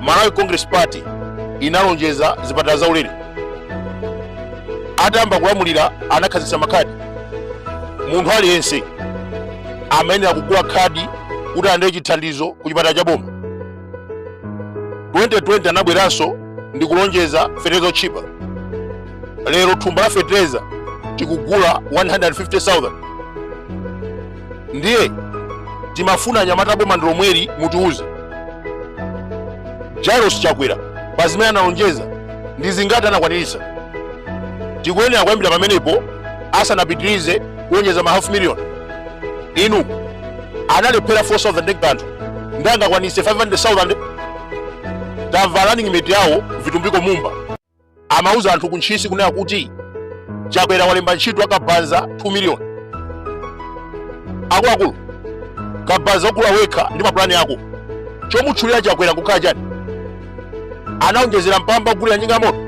malawi congress party inalonjeza zipatala zaulere atayamba kulamulira anakhazikitsa makhadi munthu aliyense amayenera kugula khadi kuti alandire chithandizo ku chipatala cha boma 2020 anabweranso ndi kulonjeza fetereza otchipa lero thumba la fetereza tikugula 150,000 ndiye timafuna anyamata boma ndilomweli mutiuze jairos chakwera pa zimene analonjeza ndi zingati anakwaniritsa tikuyenera kuyambira pamenepo asanapitirize kulonjeza ma half million inu analephera 4000 ndi kanthu nde angakwanitse 500000 tamvalani running mate yawo vitumbiko mumba amauza anthu ku Ntchisi kunena kuti Chakwera walemba ntchito akabaza 2 million. Akuluakulu, kabaza ogula wekha ndi mapulani ako chomutchulira Chakwera nkukhala chani? Anaonjezera mpamba ogulira njinga ya moto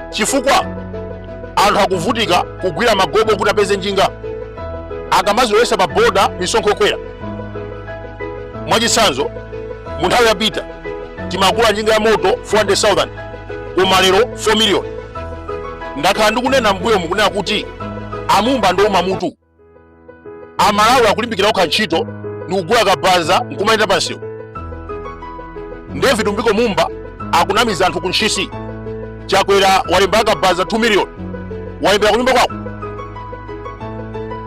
chifukwa anthu akuvutika kugwira magobo kuti apeze njinga akamazolowesa pa boda misonkho yokwera. Mwachitsanzo, mu nthawi yapita timagula njinga ya moto 400,000 koma lero 4 million ndakhala ndikunena mbuyomu kunena kuti amumba ndouma mutu amalawi akulimbikira okha ntchito ndikugula kabaza nkumayenda pamsewu ndiye vitumbiko mumba akunamiza anthu ku ntchisi chakwera walemba akabaza 2 million wawalembera kunyumba kwako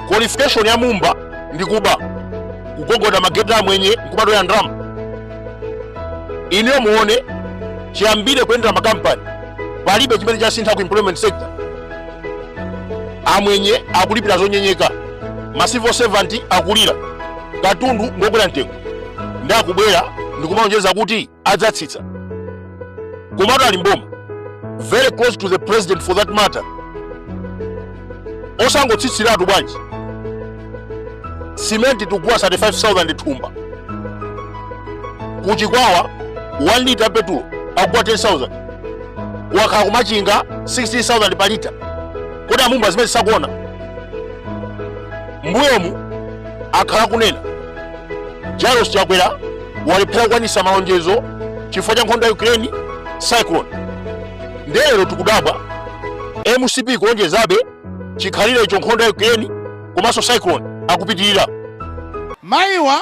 qualification ya mumba ndi kuba kugogoda mageti amwenye nkumatola ndalama inuyo muone chiyambire kuyendera makampani palibe chimene chasintha ku employment sector amwenye akulipira zonyenyeka ma civil servant akulira katundu ngokwera mtengo nde akubwera ndikumalonjeza kuti adzatsitsa komatu ali mboma very close to the president for that matter osangotsitsiratu bwanji simenti tikugula 35000 thumba kuchikwawa 1 lita petulo akugula 10000 okhala kumachinga 16000 pa lita kodi amumba zimene sakuona mbuyomu akhala kunena Jairus Chakwera walephera kukwanisa malonjezo chifukwa cha nkhondo ya Ukraine cyclone. Nde lero tikudabwa MCP kulonjezabe chikhalirecho nkhondo ya Ukraine komanso cyclone akupitirira. Mayiwa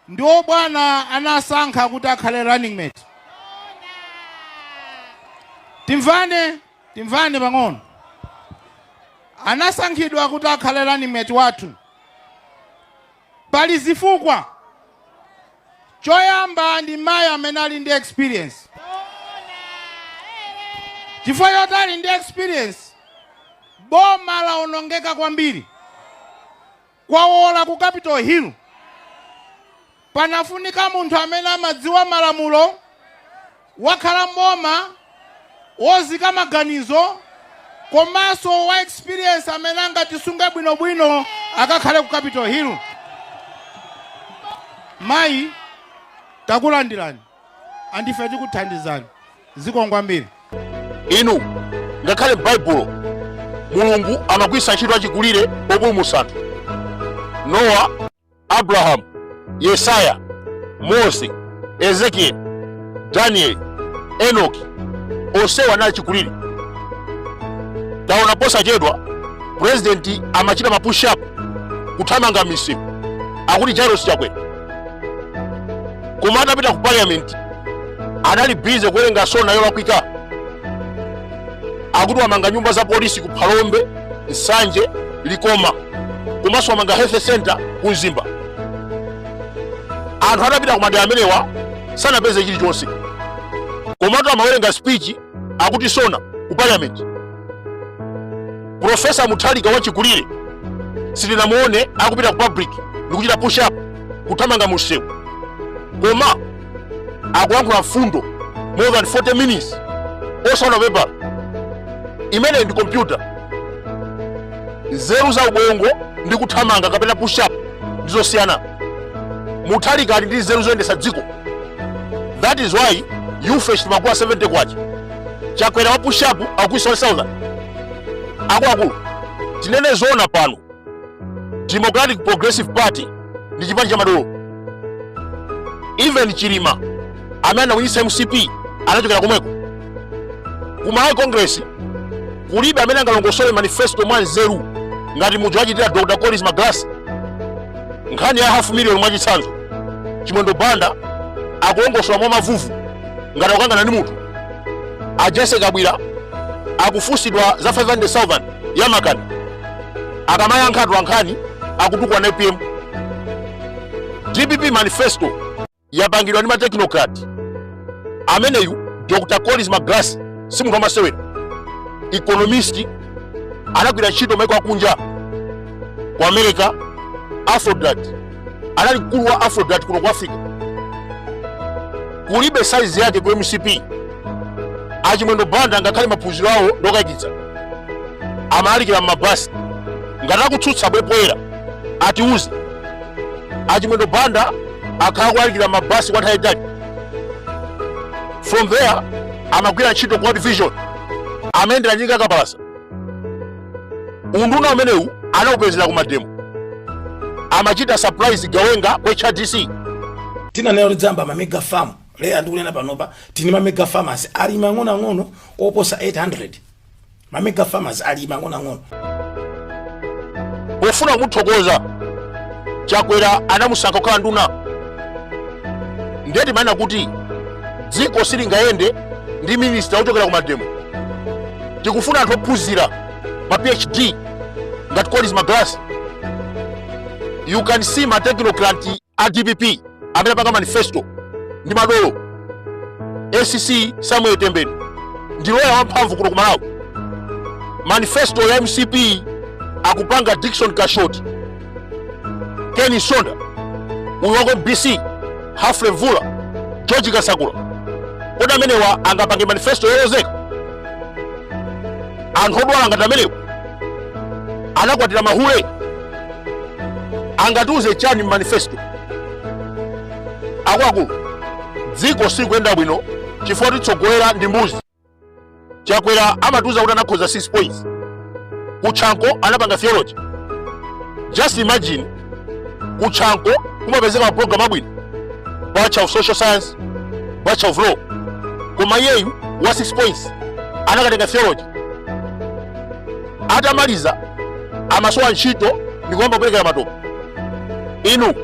ndiwo bwana anasankha kuti akhale running mate. Timvane, timvane pang'ono. Anasankhidwa kuti akhale running mate wathu. Pali zifukwa. Choyamba ndi mayi amene ali ndi experience. Chifukwa choti ali ndi experience, boma lawonongeka kwambiri. Kwawola ku Capital Hill. Panafunika munthu amene amadziwa malamulo, wakhala m'boma, wozika maganizo komanso wa experience amene angatisunge bwinobwino akakhale ku Capital Hill. Mayi, takulandirani and ife tikuthandizani. Zikomo kwambiri. Inu ngakhale m'Baibulo Mulungu amagwiritsa ntchito achikulire opulumutsa anthu. Nowa Abrahamu, Yesaya, Mose, Ezekieli, Danieli, Enoki onsewa anali achikulire. Taona posachedwa purezidenti amachita mapushapu kuthamanga misewu akuti Jairus Chakwera, koma atapita ku parliament anali bize kuwerenga sona yolakwika akuti wamanga nyumba za polisi ku phalombe nsanje likoma komanso wamanga health center ku mzimba anthu atapita ku madera amenewa sanapeze chilichonse komatu amawerenga speech akuti sona ku parliament profesa muthalika wachikulire sitinamuone akupita ku public ndikuchita push up kuthamanga mu msewu koma akuyankhula mfundo more than 40 minutes osaona pepala imene ndi kompyuta nzeru za ubongo ndi kuthamanga kapena push up ndi zosiyana muthalika ali ndi nzeru zoyendesa dziko that is why you faced makuwa 70 kwacha chakwera wa push up wakwiza 1000 akuluakulu tinene zoona pano Democratic Progressive Party ndi chipani cha madolo. Even Chilima amene anawinitsa MCP anachokera komweko. Ku Malawi Congress kulibe amene angalongosole manifesto mwa nzeru ngati muja wachitira Dr. Collins Magalasi. Nkhani ya half million mwachitsanzo. Chimwendo Banda akulongosola mwa mavuvu ngati akukangana ndi munthu. A Jessie Kabwila akufunsidwa za 500,000 ya makanda akamayankha atola nkhani akutukwana apm dpp manifesto yapangidwa ndi matechnocrat ameneyu dr collins magalasi si munthu wamasewera economist anagwira ntchito m'maiko akunja ku america afrodad anali mkulu wa afrodat kuno ku africa kulibe saizi yake ku mcp a chimwendo banda ngakhale maphunziro awo ndokayikitsa amalalikira m'mabasi ngati akutsutsa abwere poyera atiuze a chimwendo banda akhala kulalikira mabasi kwa nthawi yayitali from there amagwira ntchito ku world vision amayendera njinga yakapalasa unduna umenewu anaupezera kumademo amachita surprise gawenga la hrdc tinanena kuti tidzayamba mamega farm lero ndikunena panopa tili ndi mamega farmers ali mang'onoang'ono oposa 800 mamega farmers ali mang'onoang'ono pofuna kumuthokoza chakwera anamusankha kukhala nduna ndiye timanena kuti dziko silingayende ndi minista wochokera kumademo tikufuna anthu ophunzira ma phd ngati collins magalasi you can see ma technocrat a dpp amene apanga manifesto ndi madolo sc samuel tembenu ndi loya wamphamvu kuno ku malawi manifesto ya mcp akupanga dickson kashoti ken msonda uyu wa ku mbc humphrey mvula george kasakula kodi amenewa angapange manifesto yolozeka anthu odwala ngati amenewa anakwatira mahule angatiuze chani m'manifesto akuluakulu dziko sikuyenda bwino chifukwa otitsogolera ndi mbuzi chakwera amatiuza kuti anakhoza 6 points ku chanco anapanga theology just imagine ku chanco kumapezeka maprogram abwino bachelor of social science bachelor of law koma iyeyu wa 6 points anakatenga theology atamaliza amasowa ntchito ndikuyamba kuperekera matope inu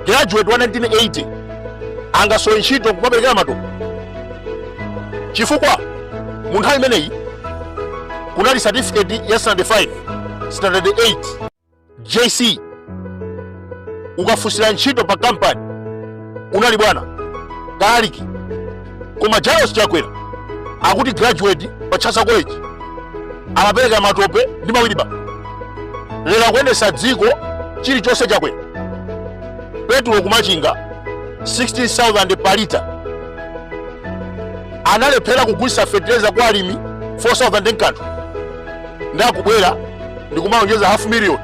graduate wa 1980 angasowe ntchito nkumaperekera matope chifukwa mu nthawi imeneyi kunali certificate ya standard 5 standard 8 jc ukafunsira ntchito pa kampani unali bwana kalaliki koma lazarus chakwera akuti graduate pa chancellor college amapereka matope ndi mawilibala lero akuyendesa dziko chilichonse chakwera petulo kumachinga 16000 pa lita analephera kugulisa fetereza kwa alimi 4000 nkanthu nde akubwera ndikumalonjeza half million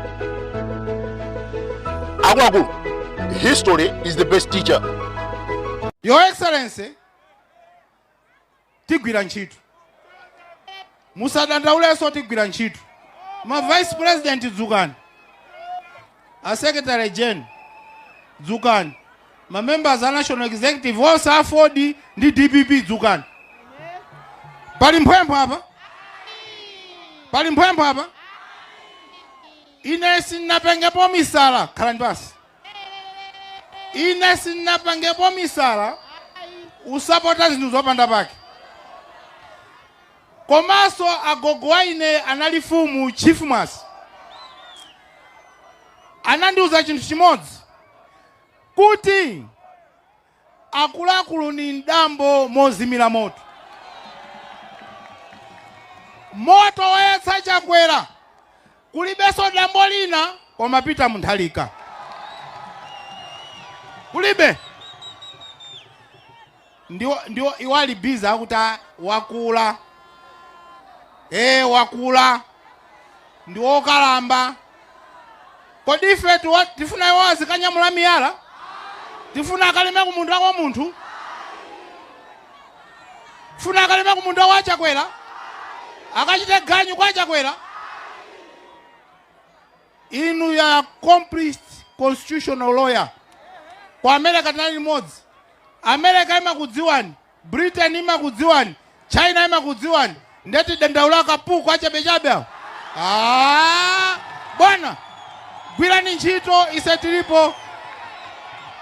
akuluakulu history is the best teacher your excellency tigwira ntchito Musadandaulenso tigwira ntchito. Ma vice president dzukani. A secretary gen dzukani. Ma members a national executive onse aford ndi dpp dzukani. Pali mphwempho apa? Pali mphwempho apa? Ine sinapangepo misala khalani pasi. Ine sinapangepo misala usapota zinthu zopanda pake. komanso agogo wa ine anali fumu chief mwase anandiuza chinthu chimodzi kuti akuluakulu ni mdambo mozimira moto moto wayatsa chakwera Kulibeso dambo lina koma Peter Mutharika. Kulibe. Ndiwo, ndiwo, iwo ali busy akuti ah, wakula. Eh, wakula. Ndi wokalamba. Kodi ife tiwa- tifuna iwo azikanyamula miyala? Tifuna akalime ku munda kwa munthu? funa akalime ku munda wa chakwera akachite ganyu kwa chakwera inuyo accomplished constitutional lawyer ku america tinali limodzi america imakudziwani britain imakudziwani china imakudziwani nde tidandaule akapuku achabechabe awo Ah, bwana gwirani ntchito ise tilipo